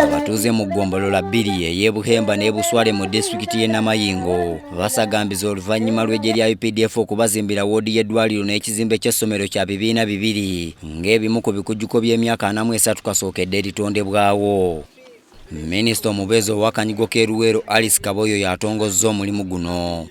Abatuuze mu ggombolola bbiri ey'e Buhemba n'e Buswale mu disitulikiti y'e Namayingo basagambiza oluvannyuma lw'eggye lya UPDF okubazimbira woodi y'eddwaliro n'ekizimbe ky'essomero kya bibiina bibiri ng'ebimu ku bikujjuko by'emyaka anamu esatu kasookedde eritondebwawo. Minisita omubeezi owakanyigo k'eruweero Alice Kaboyo y'atongozza omulimu guno.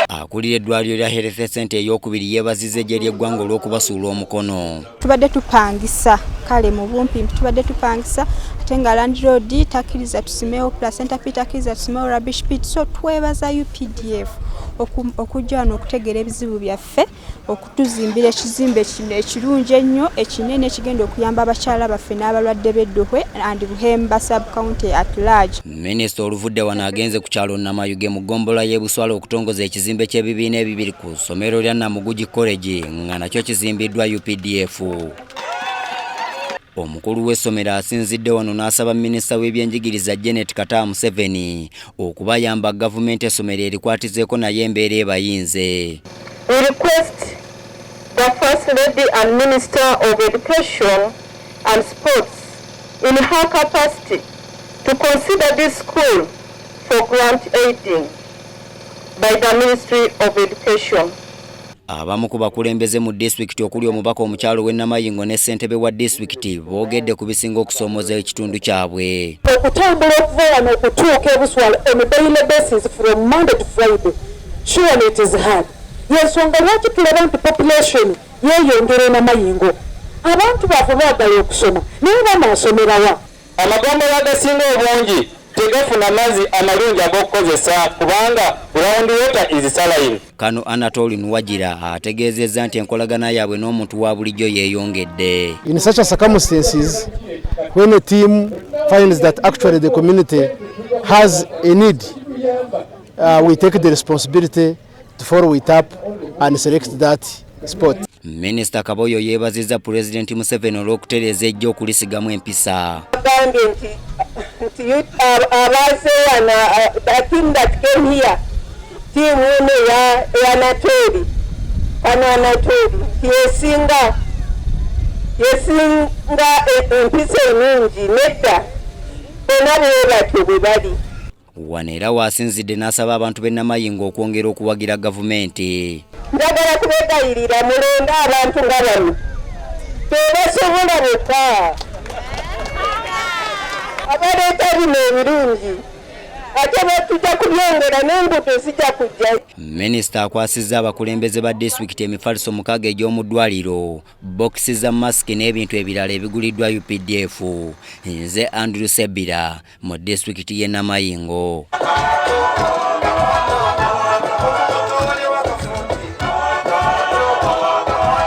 Akulira eddwaliro lya Health Center ey'okubiri yeebazizza eggye ly'eggwanga olw'okubasuula omukono. Tubadde tupangisa kale mu bumpi tubadde tupangisa ate nga landiroodi takkiriza tusimewo placenta p takkiriza tusimewo rubbish pit so twebaza updf okujja wano okutegeera ebizibu byaffe. okutuzimbira ekizimbe kino ekirungi ennyo ekinene ekigenda okuyamba abakyala baffe n'abalwadde b'edduhwe and buhemba subcounty at large minisita oluvudde wano agenze ku kyalo namayuge mu ggombola y'ebuswala okutongoza ekizimbe ky'ebibiina ebibiri ku ssomero lya namugugi college nga nakyo kizimbiddwa updf Omukulu w'essomero asinzidde wano n'asaba minisita w'ebyenjigiriza Janet Kataa Museveni okubayamba gavumenti essomero erikwatizeeko naye embeera ebayinze. We request the First Lady and Minister of Education and Sports in her capacity to consider this school for grant aiding by the Ministry of Education. Abamu ku bakulembeze mu disitulikiti okuli omubaka omukyalo w'e Namayingo ne ssentebe wa disitulikiti boogedde ku bisinga okusoomoza ekitundu kyabwe. Okutambula okuva wano okutuuka e Buswala on a daily basis from Monday to Friday surely it is hard. Y'ensonga lwaki tulaba nti population yeeyongera e Namayingo. Abantu baavu baagala okusoma naye banaasomera wa? Amagombolola agasinga obungi tegafuna mazzi amalungi ag'okukozesa kubanga ground water is saline. Kano Anatoli Nuwagira ategeezezza nti enkolagana yaabwe n'omuntu wa bulijjo yeeyongedde. In such a circumstances when a team finds that actually the community has a need uh, we take the responsibility to follow it up and select that sport. Minisita Kaboyo yeebazizza Pulezidenti Museveni olw'okutereeza ejjo okulisigamu empisa. Agambye nti nti abaaze wano the team that came here tiimu eno eya Nateri kano Anateri nti yesinga yesinga empisa enungi nedda bona bwe batyo bwe bali Wano era waasinzidde n'asaba abantu b'e Namayingo okwongera okuwagira gavumenti. Njagala kubegayirira mulonde abantu nga bano tebasobola bokka abaleeta bino ebirungi ate batuja kubyongera n'enguudo zijja kujja. Minisita akwasizza abakulembeze ba disitulikiti emifaliso mukaaga egy'omu ddwaliro, bokisi za masiki n'ebintu ebirala ebiguliddwa updf. Nze Andrew Sebira. mu disitulikiti y'e Namayingo.